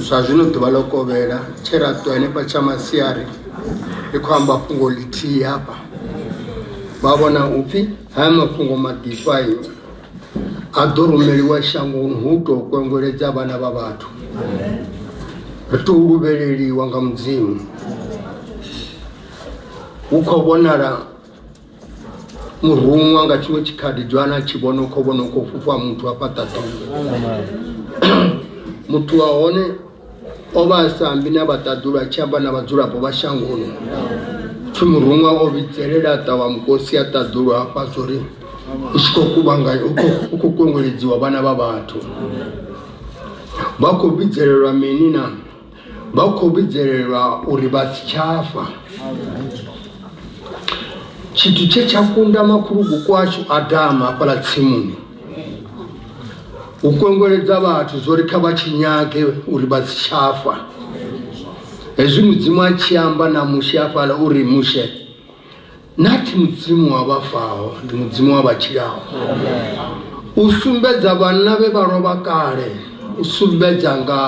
zwa zwino ḓuvha ḽo kovhela tshe ra ṱuwa henefha tsha masiari ri khou amba fhungo ḽithihi hafha vha vhona upfhi haya mafhungo maḓifhayo a ḓo rumeliwa shangoni hu tou kwengeledza vhana vha vhathu ri tou luvheleliwa nga mudzimu hu khou vhonala muruṅwa nga tshiṅwe tshikhaḓi dzwana tshi vhona u khou vhona u khou fhufha muthu a fhaṱa ḓuvha muthu wa hone o vha a sa ambi na vhaṱaḓulu a tshi amba na vhadzulapo vha shangoni pfhi muruṅwa o vhidzelela a ṱavha mukosi a ṱaḓulu hafha zwo ri u tshi khou kuvhanga u khou kwengweledziwa vhana vha vhathu vha khou vhidzelelwa mini na vha khou vhidzelelwa uri vha si tsha fa tshithu tshe tsha kunda makhulukuku ashu adama hafhaḽa tsimuni u kwengeledza vhathu zwo ri kha vha tshi nyage uri vha si tsha fa hezwi mudzimu a tshi amba na mushe hafhaḽa uri mushe nathi mudzimu wa vha faho ndi mudzimu wa vha tshilaho u sumbedza vhanna vhe vha lovha kale u sumbedza nga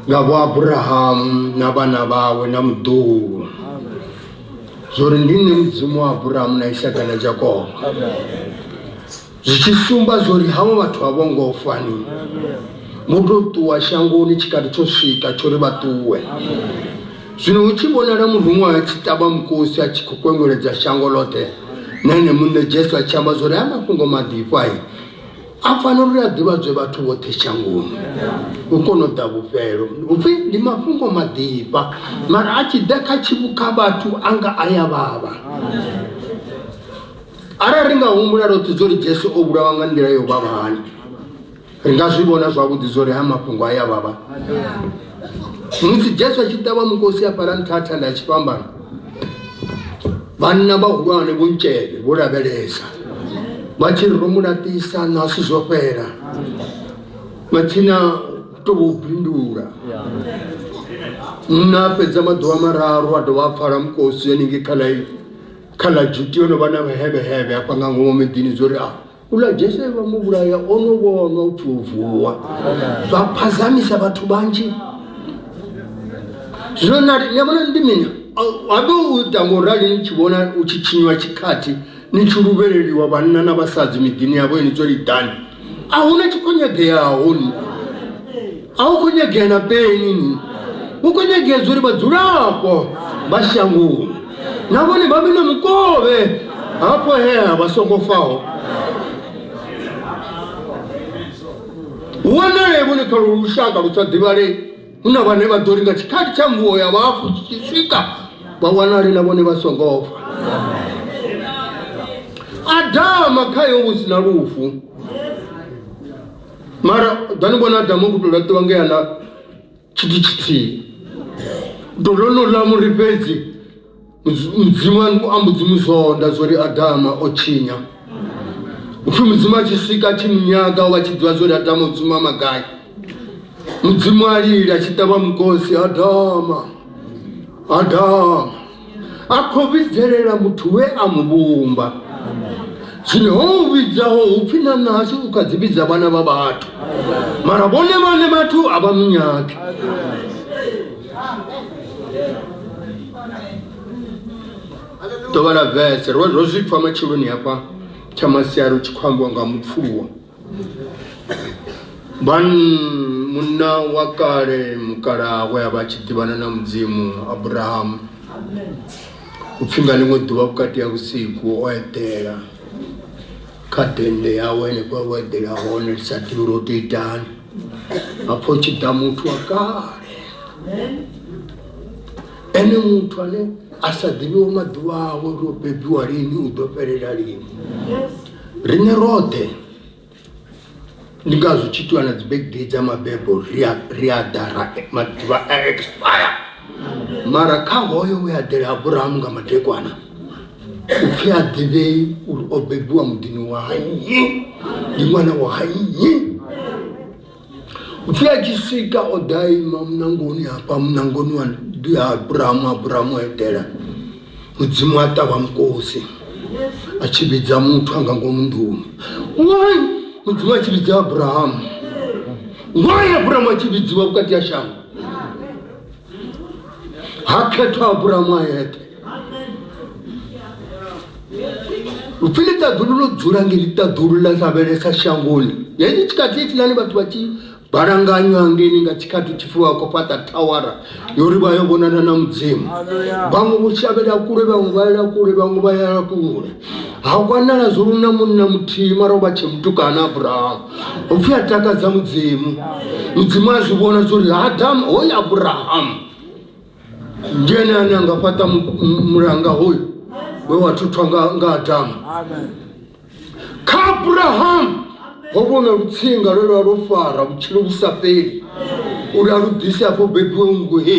nga vho abrahamu na vhana vhawe na muḓuhu zwo ri ndi nṋe mudzimu wa abrahamu na isaka na jakobo zwi tshi sumba zwori havho vhathu a vho ngo fa ni vho tou ṱuwa shangoni tshikati tsho swika tsho ri vha ṱuwe zwino hu tshi vhonala muruṅwa a tshi ṱavha mukosi a tshi khou kwengweledza shango ḽoṱhe na ene muṋe jesu a tshi amba zwori haya mafhungo maḓifhai a fanela uri a ḓivhadzwe vhathu vhoṱhe shangoni u kona u ḓa vhufhelo upfhi ndi mafhungo maḓifha mara a tshi ḓa kha tshivhukha vhathu a nga a ya vhavha arali ri nga humbula roṱhe zwo ri jesu o vhulawa nga nḓila yo vhavha hani ri nga zwi vhona zwavhuḓi zwo ri ha mafhungo a ya vhavha musi jesu a tshi ṱavha mukosi a fhala nṱha thanda ya tshifhambano vhanna vhahulwane vho ntshele vho lavhelesa vha tshi ri ro mu laṱisa nasi zwo fhela vha tshina to vho bindula nna fhedza maḓuvha mararu a dovha a pfala mukosi yaningei kha laifi kha ḽa juti yo no vha na vhehevhehevhe hafha nga ngomu miḓini dzo ri a ula jese vha mu vhulaya o no vhonwa u pfi u vuwa zwa phazamisa vhathu vhanzhi zwino nari ni vhona ndi mini habe u ita ngo rali ni tshi vhona u tshi tshinywa tshikhathi ni tshi luvheleliwa vhanna na vhasadzi miḓini yavho ini dzo lidani a hu na tshi khou nyageaho ni a hu khou nyagea na peni ni hu khou nyagea zwa uri vhadzulapo vha shangoni na vhone vha vhe na mukovhe hafho hea vha songo faho wanale vhone kha lushaka lu sa ḓivhalei hu na vhane vha ḓo ri nga tshikhathi tsha mvuwo ya vhafu tshi tshi swika vha wanale na vhone vha songo fa adama khayo hu si na lufu mara dani vhona adama ku tou laṱiwa ngea na tshithu tshithihi ḓo ḽo no ḽa muri fhedzi mudzimu a mbo dzi mu zwonda zwo ri adama o tshinya upfhi mudzimu a tshi swika a tshi mu nyaga o vha tshi ḓivha zwo ri adama o dzuma magai mudzimu a lila a tshi ṱavha mukosi adama adama a khou vhidzelela muthu we a mu vhumba zwino ho u vhidzaho upfhi na nṋa hashu u kha dzi vhidza vhana vha vhathu mara vhone vhane vhathu a vha munyagi ḓo vhala vese ro ro zwi pfa matsheloni hafha tsha masiari u tshi khou ambiwa nga mupfuluwa ban munna wa kale mukalawe a vha tshi ḓivhana na mudzimu abrahamu u pfhi nga ḽiṅwe ḓuvha vhukati ha vhusiku o eḓela kha dende yawe henefho vho eḓela hone ri sa ḓivhi uri o to itani hapfo tshi ḓa muthu wa kale ene muthu ane a sa ḓivhiwo maḓuvha awe uri o bebiwa lini u ḓo fhelela lini riṋe roṱhe ndi ngazwo tshi itiwa na dzi birthday dza mabebo ri a ri a ḓa ra maḓuvha a expire mara kha hoyo we a ḓela aburahamu nga madekwana u pfhi a ḓivhei uri o bebiwa muḓini wa nnyi ndi ṅwana wa nnyi u pfhi a tshi swika o ḓa ima munangoni hafha munangoni wa ndi ha aburahamu aburahamu a itela mudzimu a ṱavha mukosi a tshi vhidza muthu a nga ngomu nḓuni why mudzimu a tshi vhidza aburahamu why aburahamu a tshi vhidziwa vhukati ha shango ha khethwa aburamu a yeṱhe upfi ḽi ṱaḓulu ḽo dzula nge ḽi ṱaḓulu ḽa lavhelesa shangoni yeyi tshikhathi itiḽani vhathu vha tshi balanganywa ngeni nga tshikhathi tshi fuwa khou fhaṱa thawara yori vha yo vhonana na mudzimu vhaṅwe vho shavhela kule vhaṅwe vha yela kule vhaṅwe vha yela kule ha wanala zwo luna munna muthihi mara o vha tshe mutukana abrahamu upfi a takadza mudzimu mudzimu a zwi vhona zwa uri adamu hoyu abrahamu ndi ene ane a nga fhaṱa mulanga hoyu we wa thuthwa nga adamu kha abrahamu ho vhona lutsinga lwe lwa lwo fara vhutshilo vhu sa fheli uri a lu ḓise afho bebiwe nngu he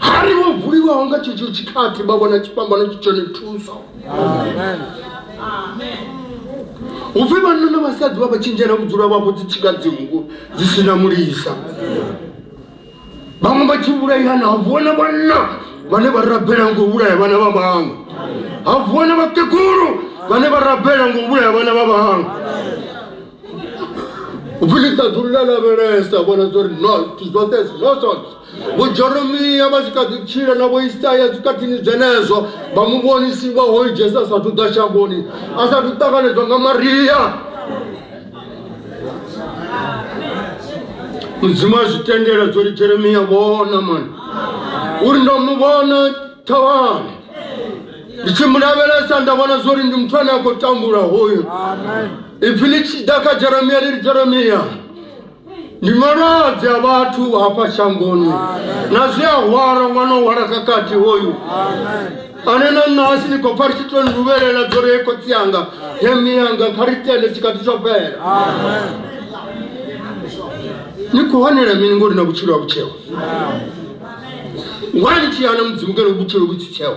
hari vho vuliwaho nga tshetsho tshikhathi vha vhona tshifhambano tshi tshone thuso hu pfi vhanna na vhasadzi vha vha tshintshela ku dzula vhavho dzi tshika dzinku dzi si na mulisa vhaṅwe vha tshi vhulaihana ha vuwa na vhanna vhane vha rabela ngo vhulaya vhana vha vhaṅwe ha vuwa na vhakegulu vhane vha rabela ngo vhulaya vhana vha vhaṅwe u pfi ḽi ṱaḓulu ḽa lavhelesa vhona zwa uri no zwoṱhe zwi no zwone Vhojeremia vha tshi kha ḓi tshila na Vhoisaya zwikhathini zwenezwo, vha mu vhonisiwa hoyu Jesu a sathu ḓa shangoni, a sathu ṱanganedzwa nga Maria. Mudzimu a zwi tendela zwo ri Jeremia vhona mani uri ndo mu vhona thavhani ndi tshi mu lavhelesa nda vhona zwo ri ndi muthu ane a khou tambula hoyu ipfi ḽi tshi ḓa kha Jeremia ḽi ri Jeremia ndi malwadze a vhathu hafha shangoni na zwi a hwala ṅwana o hwala kakati hoyu ane na ṋahasi ni khou pfa ri tshi to nduvhelela dzo ri khotsi yanga he miyanga kha ri tende tshikati tsho fhela ni khou hanela mini ngori na vhutshilo ha vhutsheo wani tshiyana mudzimu kene vhutshilo vhutsitsheo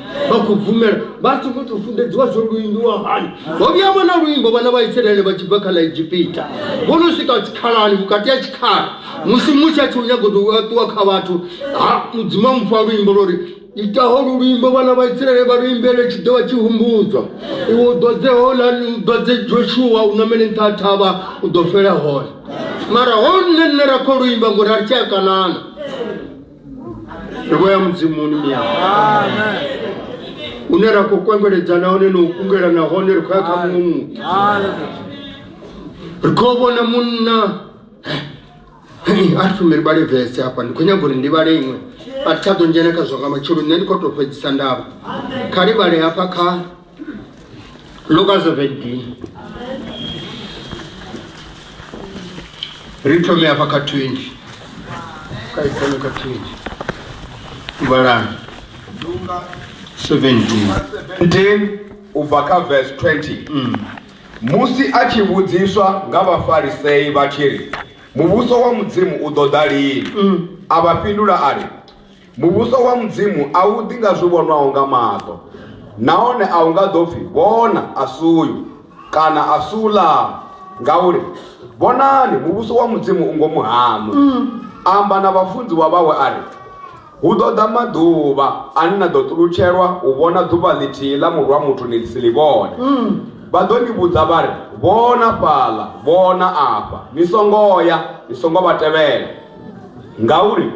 vha khou bvumela vha tshi khou tou funḓedziwa zwo luindiwa hani ho vhuya vha na luimbo vhana vha isiraele vha tshi bva kha ḽa egipita vho no swika tshikhalani vhukati ha tshikhala musi musi a tshi u nyago tou ṱuwa kha vhathu ha mudzimu a mupfa luimbo lwo ri itaho lu luimbo vhana vha isiraele vha luimbele tshi ḓo vha tshi humbudzwa iwe u ḓodze hola u ḓodze joshua u namele nṱha ha thavha u ḓo fela hone mara ho nṋe nṋe ra khou luimba ngori a ri tshi a kanana roho ya mudzimu ni miyao une ra khou kwengweledza nahone na u kungela nahone ri khou ya kha muṅwe muthu ri khou vhona munna a ri fumeli vhale vese hafha ndi khou nyaga uri ndi vhale iṅwe a thi tsha ḓo dzhena kha zwa nga matshelo nṋe ndi khou tou fhedzisa ndavha kha livhale hafha kha Luka 17 ri thome hafha kha 20 kha ithome kha 20 vhalani Luka 17 17 u bva kha verse 20 musi a tshi vhudziswa nga vhafarisei vha tshi ri muvhuso wa mudzimu u ḓo ḓa lini a vha fhindula a ri Muvhuso wa Mudzimu a u ḓi nga zwi vhonwaho nga maṱo, nahone a u nga ḓo pfi, Vhona, a si uyu, kana a si uḽaa, ngauri, vhonani, muvhuso wa Mudzimu u ngomu haṋu. A amba na vhafunziwa vhawe a ri, Hu ḓo ḓa maḓuvha ane na ḓo ṱulutshelwa u vhona ḓuvha ḽithihi ḽa Murwa wa muthu ni si ḽi vhone. Vha ḓo ni vhudza vha ri, Vhona fhaḽa! Vhona afha! Ni songo ya, ni songo vha tevhela. Ngauri,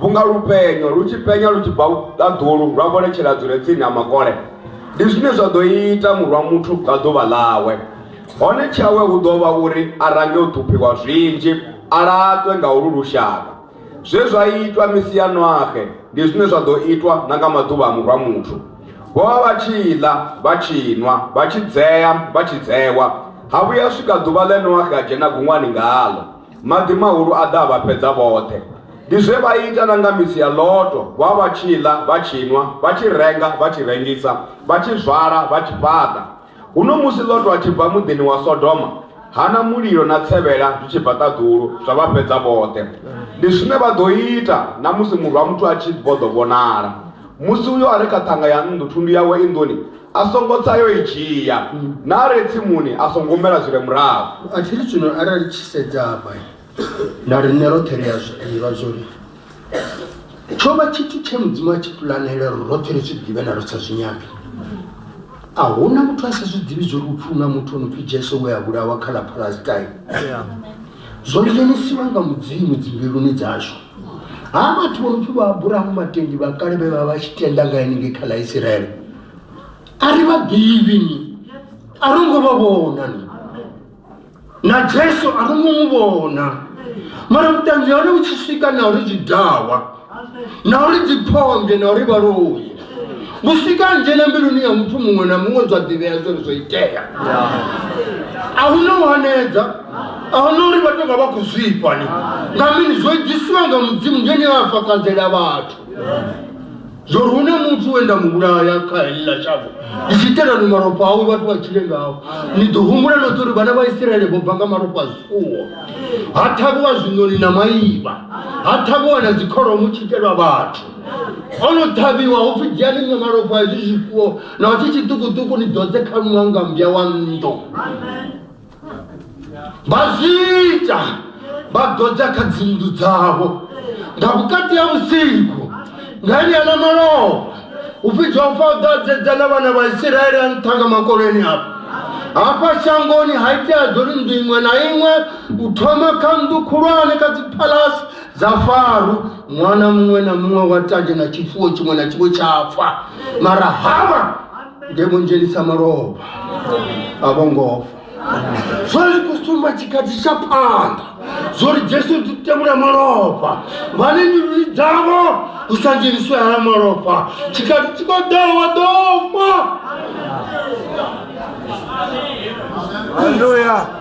vhunga lupenyo lu tshi penya lu tshi bva ṱaḓulu lwa vholetshela dzule tsini ha makole ndi zwine zwa ḓo ita murwa muthu nga ḓuvha ḽawe hone tshawe hu ḓo vha uri a range u ṱhuphiwa zwinzhi a laṱwe nga ulu lushaka zwe zwa itwa misi ya noaxe ndi zwine zwa ḓo itwa na nga maḓuvha a murwa muthu vho vha vha tshi ḽa vha tshi nwa vha tshi dzea vha tshi dzewa ha vhuya swika ḓuvha ḽe noaxe a dzhena guṅwani ngaḽo Maḓi mahulu a ḓa a vha fhedza vhoṱhe. Ndi zwe vha ita na nga misi ya Loto, vha vha tshi ḽa, vha tshi nwa, vha tshi renga, vha tshi rengisa, vha tshi zwala, vha tshi fhaṱa. Huno musi Loto a tshi bva muḓini wa Sodoma, hana mulilo na tsevhela zwi tshi bva ṱaḓulu, zwa vha fhedza vhoṱhe. Ndi zwine vha ḓo ita na musi Murwa-muthu a tshi vho ḓo vhonala. Musi uyo a re kha ṱhanga ya nnḓu, thundu yawe i nḓuni, a songo tsa yo i dzhia na a re tsimuni a songo humela zwi re murahu a tshiri zwino arali tshi sedza hafha na riṋe roṱhe ri a zwi ḓivha zwori tsho vha tshithu tshe mudzimu a tshi pulanela uri roṱhe ri zwi ḓivhe na ri sa zwi nyagi a hu na muthu a sa zwi ḓivhi zwori upfhi una muthu o no pfhi jesu we a vhulawa kha ḽa palestine zwo dzhenisiwa nga mudzimu dzimbiluni dzashu ha vhathu vho pfi vha aburahamu vhatendi vha kale vhe vha vha tshi tenda nga henengei kha ḽa isiraele a ri vhaḓivhi ni a ro ngo vha vhona ni na jesu a ro ngo mu vhona mara vhuṱanzi hone vhu tshi swika na uri zwidawa na uri dziphonge na uri vhaloyi vhusika nzhena mbiluni ya muthu muṅwe na muṅwe zwa ḓivhea zwori zwo itea a hu no wanedza a hu no uri vha tonga vha khou zwifhani nga mini zwo edzisiwa nga mudzimu ngeni a fakadzela vhathu zwori hu na muthu we nda mu vhulaya kha heḽila shango ndi tshi itela ni malofha awe vhathu vha tshile ngawo ni ḓo humbula noṱhe uri vhana vha isiraele vho bva nga malofha a zwifuwo ha ṱhavhiwa zwiṋoni na maivha ha ṱhavhiwa na dzikholomo tshi itelwa vhathu ho no ṱhavhiwa ho pfi dzhiani ṅwe malofha hezwi zwifuwo na tshi tshiṱukuṱuku ni ḓodze kha luṅwa nga mbya wa nnḓu vha zwi ita vha ḓodza kha dzinnḓu dzavho nga vhukati ha vhusiku nga enea na malofha u fhidzwa u fa u ḓadzedza na vhana vha isiraele a nṱha nga makoleni afho hafha shangoni ha itea dzori nnḓu iṅwe na iṅwe u thoma kha nnḓu khulwane kha dziphalasi dza faru ṅwana muṅwe na muṅwe wa tande na tshifuwo tshiṅwe na tshiṅwe tsha pfa mara hama nge vho dzhenisa malofha a vho ngofa zwo ri khou sumba tshikhathi tsha phanḓa zwo ri jesu ri tevhula malofha vhane nyululi dzavho hu sa dzheniswe hala malofha tshikhathi tshi khou ḓaho wa ḓo fa Hallelujah.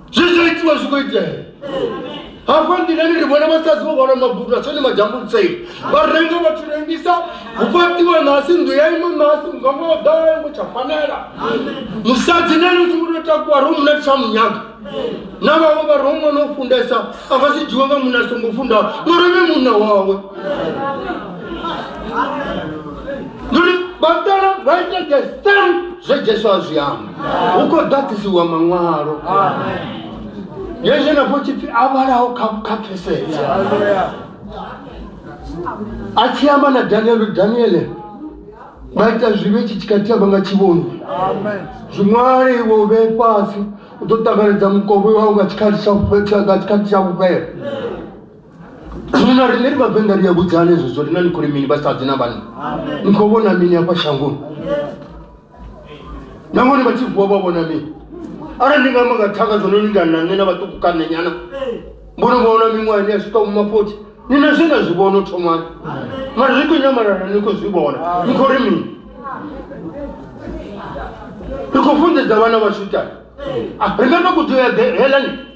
zwezwo itiwa zwi khou itea hafha nḓilani ri vhona vhasadzi vho hwala mabudu a tshone majambulutsei vha renga vhathu rengisa hu fhaṱiwa nasi nnḓu ya iṅwe nasi muganga wa ḓala yango tsha fanela musadzi na ene u tshi vho tou takuwa ro muna tsha munyaga na vhawe vha ro ṅwana u fundesa a nga si dzhiwe nga munna a songo fundaho ngori ene munna wawe zwe jesu a zwi amba hu khou ḓaḓisiwa maṅwalo ye zwenefho tshipfi a vhalaho kha pfesesa a tshi amba na daniele daniele vha ita zwivhe tshi tshi khathiya vha nga tshivhoni zwiṅwale iwe u vhee fhasi u ḓo ṱanganedza mukovhe wau nga tshikhathi tsha vhufhela zwino riṋe ri vhavenḓa ri a vhudzane zwezwo rina ni khou ri mini vhasadzi na vhanna ni khou vhona mini hafha shangoni nangoni vha tshi vuwa vha vhona mini arali ndi nga amba nga thanga zwo no lingana na nṋe na vhaṱuku kanenyana mbono vhona miṅwahani ya swika vhuma fothi ni na zwe na zwi vhona u thomani mara ri khou nyamalana ni khou zwi vhona ni khou ri mini ri khou funḓedza vhana vhashu tani ri nga to kudzea helani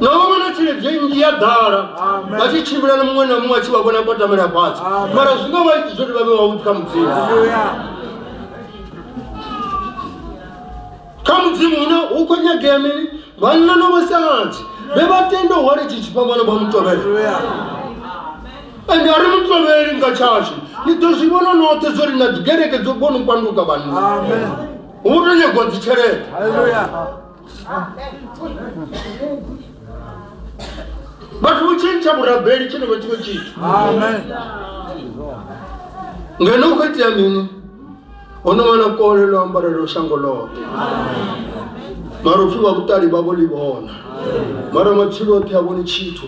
na vha vhona tshelede nnzhi ya ḓala vha tshi tshimbila na muṅwe na muṅwe a tshi vha vhona kwatamela fhasi mara zwi nga vha iti zwori vha vhe wavhuḓi kha mudzimu kha mudzimu hune hu khou nyagea mini vhanna no vhasadzi vhe vha tenda u hwale tshi tshifhambano vha mutovhela ende a ri mutovheli nga tshashu ni ḓo zwi vhona noṱhe zwo ri na dzigereke dzo kona u panduka vhanna hu to nyagwa dzitshelede vhathu vho tshintsha vhurabeli tshine vha tshiwe tshithu ngeno u khou itea mini hono wana kole ḽo ambarelo shango ḽoṱhe mara upfi vha vhuṱali vha vho ḽi vhona mara matshilo oṱhe a vhoni tshithu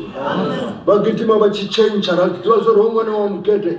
vha gidima vha tshi tshentsha ra ḓivha zwo ri ho ṅwana wa mugede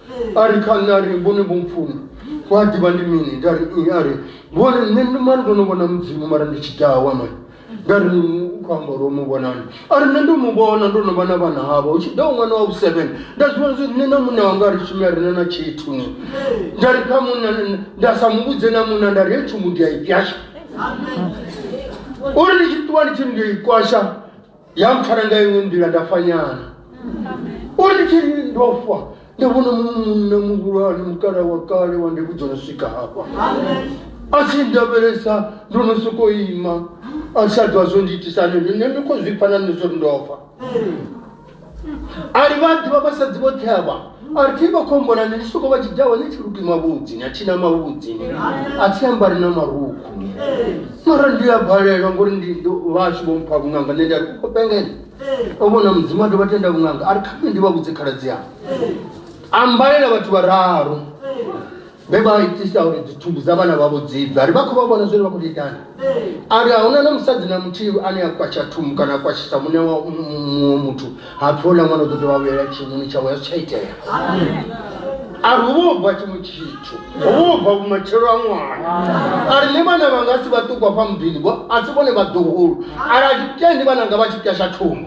a ri kha nṋe a ri vhone vho mpfuma ku a ḓivha ndi mini nda ri i a ri vhone nṋe ndi mani ndo no vhona mudzimu mara ndi tshi dawa mani nda ri u khou amba uri o mu vhonani a ri nṋe ndo mu vhona ndo no vha na vhana havha hu tshi ḓa u ṅwana wa vhu-seven nda zwi vhona zwo nṋe na munna wanga ri shume a rina na tshithu ni nda ri kha munna nda sa mu vhudze na munna nda ri he tshumu ndi a i fyasha uri ndi tshi ṱuwa ndi tshi ndi i kwasha ya mpfara nga iṅwe nḓila nda fa nyana uri ndi tshi ndo fa nda vhona muṅwe munna muhulwane mukala wa kale wa ndi vhudza no swika hafha a tshi ndavhelesa ndo no sokou ima a sa dwa zwo ndiitisa nini nṋe ndi khou zwi pfa na nṋe zwo ri ndo fa ali vha ḓivha vhasadzi vhoṱhe avha Arti ba khombona ni lisuko ba jidawa ni chiluki mavhudzi na china mavhudzi ni a thi ambari na marukhu mara ndi a balelwa ngori ndi vhashu vho mpha vhunganga nṋe nda ri khou pengela o vhona mudzimu a dovha tenda vhunganga a ri kha nṋe ndi vha vhudze khaladzi yanga a mbalela vhathu vhararu vhe vha itisa uri dzithumbu dza vhana vhavho dzibve ari vha khou vha vhona zwine vha khou itani ari a huna na musadzi na muthihi ane a kwatsha thumbu kana a kwashisa mune wa muṅwe muthu ha pfi houḽa ṅwana u ḓo dovha vhuyela tshimuni tshawe zwi tsha itea ari hu vha u bva tshiṅwe tshithu hu vha u bva vhumatshelo a ṅwana ari nṋe vhana vhanga a si vhaṱukwa fha muḓini a si vhone vhaḓuhulu ari a tshitendi vhananga vha tshi pwasha thumbu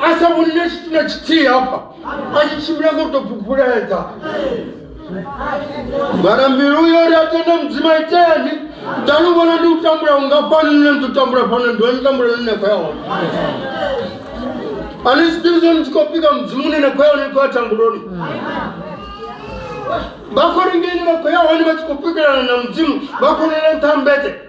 a sa vhonile tshithu na tshithihi hafha a tshi tshimbila ngo tou phuphuledza mara mbilu yo ri a tenda mudzima iteni nda lu vhona ndi u tambula ungafhani nne ndi u tambula fhano ndi wani tambula nne khou ya hone ani zwi ḓivhi zwone tshi khou pika mudzimu une na khou ya hone ndi khou ya tambuloni vha khou ri ngeni vha khou ya hone vha tshi khou pikelana na mudzimu vha khou lela nṱha mbete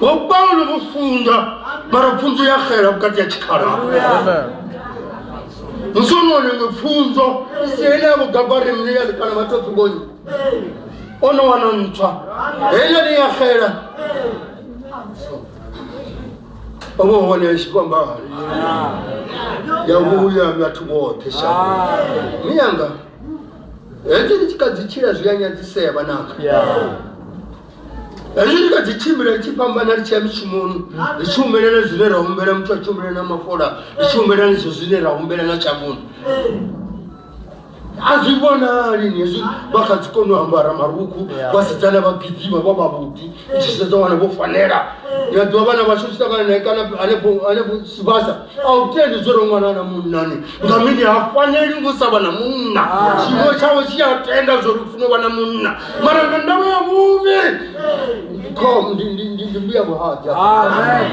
vho paulo vho funza mara pfunzo ya xela vhukati ya tshikhala musi o no nenge pfunzo isi ene ya vhugabari mne ya ḽikana vhatsatsukonyi o no wana ntswa heila ni ya xela o vho hone tshikwambari ya vhuya vhathu vhoṱhe sha mi yanga hezwi ri tshi kha dzi tshila zwi a nyadzisea vhananga hezwi ri kha dzi tshimbila ri tshi fhambana ri tshi ya mishumoni ri tshi humelela zwine ra humbela muthu a tshi humbela na mafola ri tshi humbela nizwo zwine ra humbela na tshavhuni a zwi vhonali ni hezwi vha kha dzi kone u ambara marukhu vhasidzana vha gidima vha vhavhuḓi i tshi sedza wana vho fanela ni a ḓivha vhana vhashu tshi ṱangana nae kana hanefho sibasa a u tendi zwo ronwana na munnani nga mini ha faneli ngo sa vha na munna tshiwo tshawe tshi a tenda zwo ri funa u vha na munna mara nga ndavha ya vhuvhi khom ndi ndi ndi ndi mbuya vhuhadza Amen.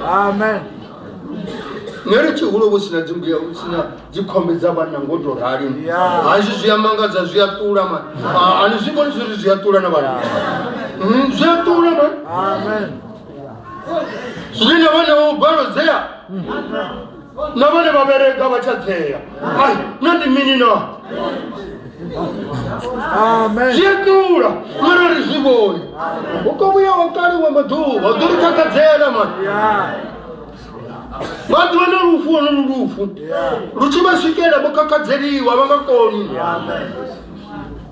Amen. neri tshihulu vhu sina dzimbuya vhu sina dzikhombe dza vhanna ngo to rali Ya. hazwi zwi a mangadza zwi a ṱula ma ani zwi vhoni zwiri zwi a ṱula na vhanna Mm, zwi a ṱula ma Amen. zwine vhone vho gwalodzea na vhone vha vhereka vha tsha dzea ai na ndi mini na zwiṱula mara ri zwi vhoni u ko vhuya wa kaliwa maḓuvha u ḓo ri takadzela mani vhaḓuvha na lufu ono lu lufu lu tshi vha swikela vho kakadzeliwa vha nga koni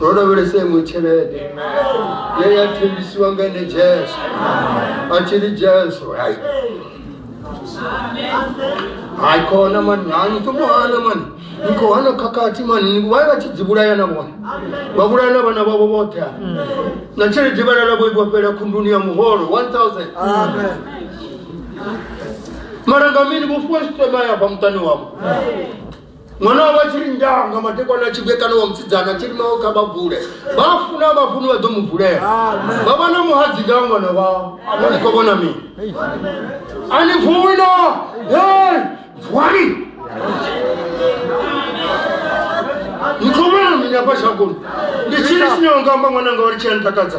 ro lavhelese iṅwe tshelede ye ya thembisiwa nga ene jesu a tshi ri jesu hai hai khona mani hani to muhana mani ni khou hana khakhathi mani ni vha vha tshi dzi vhulaya na vhone vha vhulaya na vhana vhavho vhoṱhe ha na tshelede vha lala vho ibwa fhela khunduni ya muholo 1000 mara nga mini vho fuwa sitema ya bva muṱani wavho mwana wavho a tshi ri ndanga madekwana a tshi vhuyekana wa musidzana a tshi ri mawo kha vha vule vha funa vha funi vha ḓo mu vulela vha vha na muhadzi nga ṅwana wao no ni khou vhona mini a ni vuwi na hey vuwani ni khou vhona mini afha shagoni ndi tshili tshine wa nga amba ṅwananga wa ri tshi a ntakadza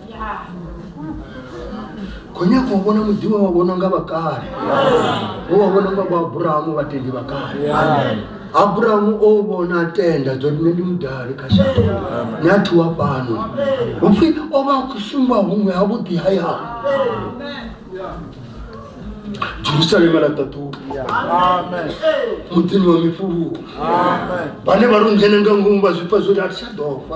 khou nyaka u vhona muḓi we wa vhona nga vhakale we wa vhona nga vhaaburahamu vhatendi vhakale aburahamu o vhona tenda dzo nṋe ndi mudali kha shango ni a thuwa fhano upfhi o vha a khou sumba huṅwe ha vhuḓi hayani jerusalema ḽa ṱaṱuwa muḓini wa mifuluwo vhane vha ri ngene nga ngomu vha zwipfa zwori a thi tsha ḓofa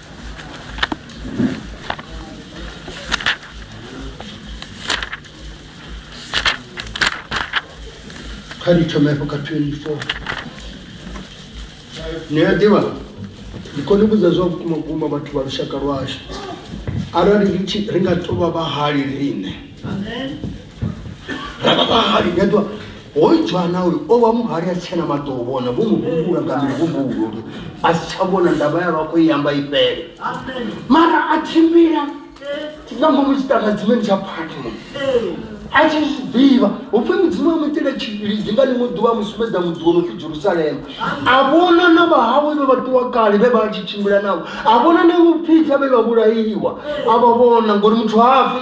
kha ri thome hafho kha 24 ni a ḓivha ndi kone vhudza zwa vhukuma vhukuma vhathu vha lushaka lwashu arali ri nga tovha vhahali riṋe ra vha vhahali ndi a ḓiwa hoyu dzhwana uyu o vha muhali a si tshena maṱo u vhona vho mu humbula nga mihumbulo uri a si tsha vhona ndavha ya lwakho i amba i fhele mara a tshimbila nga ngomu tshiṱangadzimeni tsha phatmo a tshi zwi ḓivha hupfi mudzimu wa muitela tshilidzi nga ḽiṅwe ḓuvha mu sumbedza muḓi wo no pfi jerusalema a vhona na vhahawe vhe vha ṱuwa kale vhe vha tshi tshimbila navho a vhona na vhupfidza vhe vha vhulaiwa a vha vhona ngori muthu hafi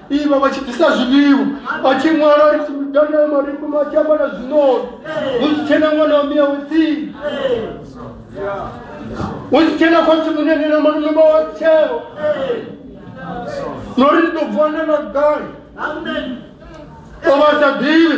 iva vha tshi ḓisa zwiḽiwa vha tshi ṅwala ri tshi midana ya mariku ma tshi amba na zwinoni hu si tshena ṅwana wa miyawe tsini hu si tshena khotsi munene na malume vha wa tsheo no ri ndi ḓo vuwa na na gai o vha sa ḓivhi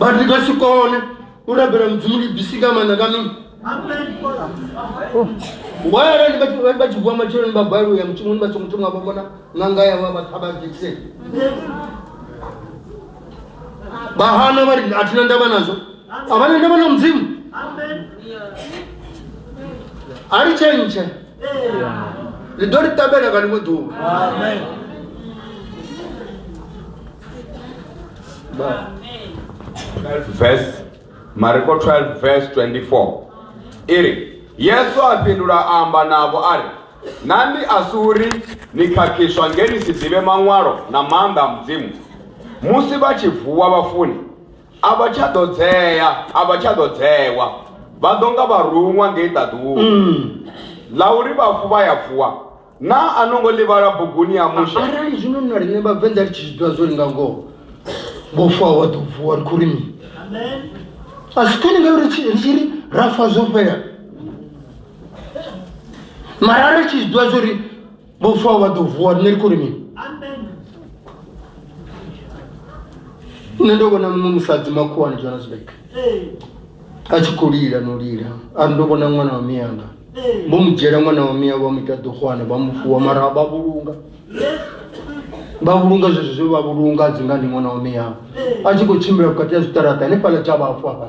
but ndi nga si kone u rabela mudzimu ndi bisi nga maanḓa nga mini wayara ndi vha- vha- vha tshi vuwa matsheloni vha gwalo ya mushumoni vha songo thoma vha vhona ṅanga yavho vha ṱhavha dzekiseni vha hana vha ri a thina ndavha nazwo a vha na ndavha na mudzimu a ri tshentshe ni ḓo ri ṱamela nga ḽiṅwe ḓuvha verse mariko 12 verse 24 iri yesu a fhindula a amba navho a ri na ndi a si uri ni khakhiswa nge ni si ḓivhe maṅwalo na maanḓa a mudzimu musi vha tshi vuwa vhafuni a vha tsha ḓo dzea a vha tsha ḓo dzewa vha ḓo nga vharuṅwa ngei ṱaḓuwo ḽa uri vhafu vha ya vuwa na a no ngo ḽi vhala buguni ya mushe arali zwino na riṋe vhavenḓa ri tshi zwi ḓivha zwo ri nga ngoho vho fa wa ḓo vuwa ri khou ri mini a si kani ngauri ri tshi- ri tshi ri ra fa zwo fhela mara ri tshi zwi ḓivha zwo ri Por favor, do voar nel kurimi. Nne ndobona musadzi makhuwani Johannesburg. A tshi khou lila no lila. A ndo vhona ṅwana wa miyanga. Vho mu dzhiela ṅwana wa miya vha mu ita ḓuhwana vha mu fuwa mara vha vhulunga. Vha vhulunga zwezwo zwe vha vhulunga dzi nga ndi ṅwana wa miyanga. A tshi khou tshimbila vhukati ha zwiṱaraṱa hanefhaḽa tsha vhafu hafha.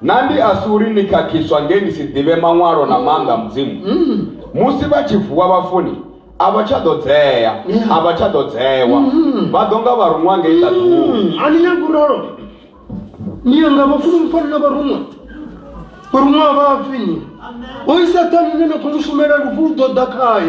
Na ndi a si uri ni khakhiswa nge ni si ḓivhe maṅwalo na maanḓa a Mudzimu. Musi vha tshi vuwa vhafuni, a vha tsha ḓo dzea, a vha tsha ḓo dzewa. Vha ḓo nga vharuṅwa ngei ṱaḓulu. A ni nyagi u ralo? Ni ya nga vhafuni mu fane na vharuṅwa. Vharuṅwa a vha fi ni. Hoyu Saṱhane une na khou mu shumela lufu lu ḓo ḓa khae.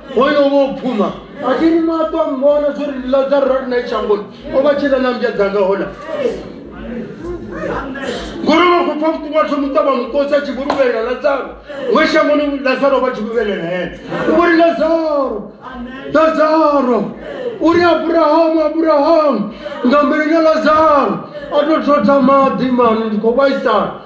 hoyo vho phuma a thi ni maṱo a mmbona zwo ri lazaro ri nae shangoni o vha tshila na mbya dzanga hola ngori vha khou pfa vhuṱungu a thomu ṱavha mukosi a tshi vho luvhelela lazaro we shangoni lazaro vha tshi luvhelela hene u vhori lazaro lazaro uri abrahamu abrahamu nga mbilina lazaro a tou thotha maḓi mani ndi khou vhaisala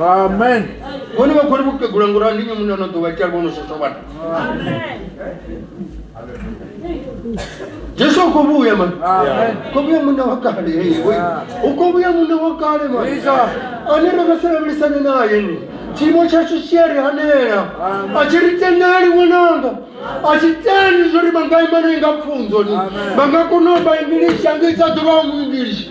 amen vhone vha khou ri vhukegula ngori ndi nnyi muṋe ano ḓuvha tshia vhono sweswa vhathu jesu u khou vhuya mani khou vhuya muṋe wa kale u khou vhuya muṋe wa kale mani ane ro nga si lavhelisane naye ni tshiimo tshashu tshi a ri hanela a tshi ri tendeli ṅwananga a tshi tendi zwo ri vha nga ima naye nga pfunzo ni vha nga kona u vha ingilishi angisa ḓuvha wa mu ingilishi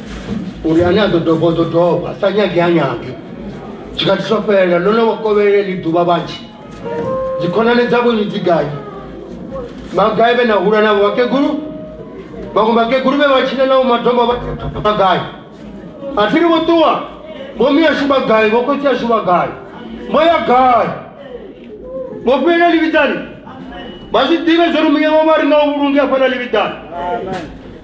uri ane a ḓo dovha o ḓo dovha sa nyagi ha nyagi tshikhathi tsho fhelela ndo no kovheleli ḓuvha vhanzhi dzikhonani dzavho ni dziganyi magai vhe na hula navho vhakegulu vhaṅwe vhakegulu vhe vha tshile nao madombo vhagai a thi ri vho ṱuwa vhomi ashu vhagai vho khotsi ashu vhagai vho ya gai vho fhelela livhidzani vha zwi ḓivhe zwo ri muya wa vha ri na u vhulungi afha na livhidzani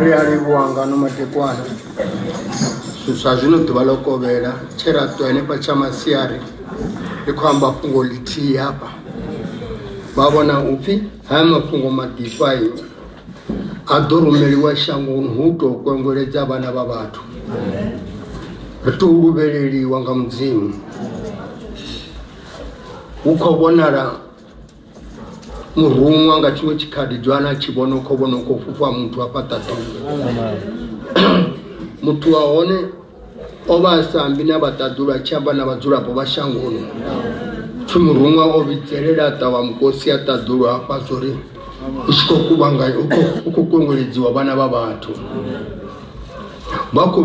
ri a livhuwa ngano madekwana zwa zwino ḓuvha ḽo kovhela tshe ra ṱuwa henefha tsha masiari ri khou amba fhungo ḽithihi hafha vha vhona upfhi haya mafhungo maḓifhayo a ḓo rumeliwa shangoni hu tou kwengweledza vhana vha vhathu ri tou luvheleliwa nga mudzimu hu khou vhonala muruṅwa nga tshiṅwe tshikhaḓi joana a tshi vhona kho vhona u khou fhufha muthu a fhaṱa ḓuvha muthu wa hone o vha a sa ambi na vhaṱaḓulu a tshi amba na vhadzulapo vha shangoni pfi muruṅwa o vhidzelela a ṱavha mukosi a ṱaḓulu hafha zwo ri u tshi khou kuvhanganya u khou kongeledziwa vhana vha vhathu vha khou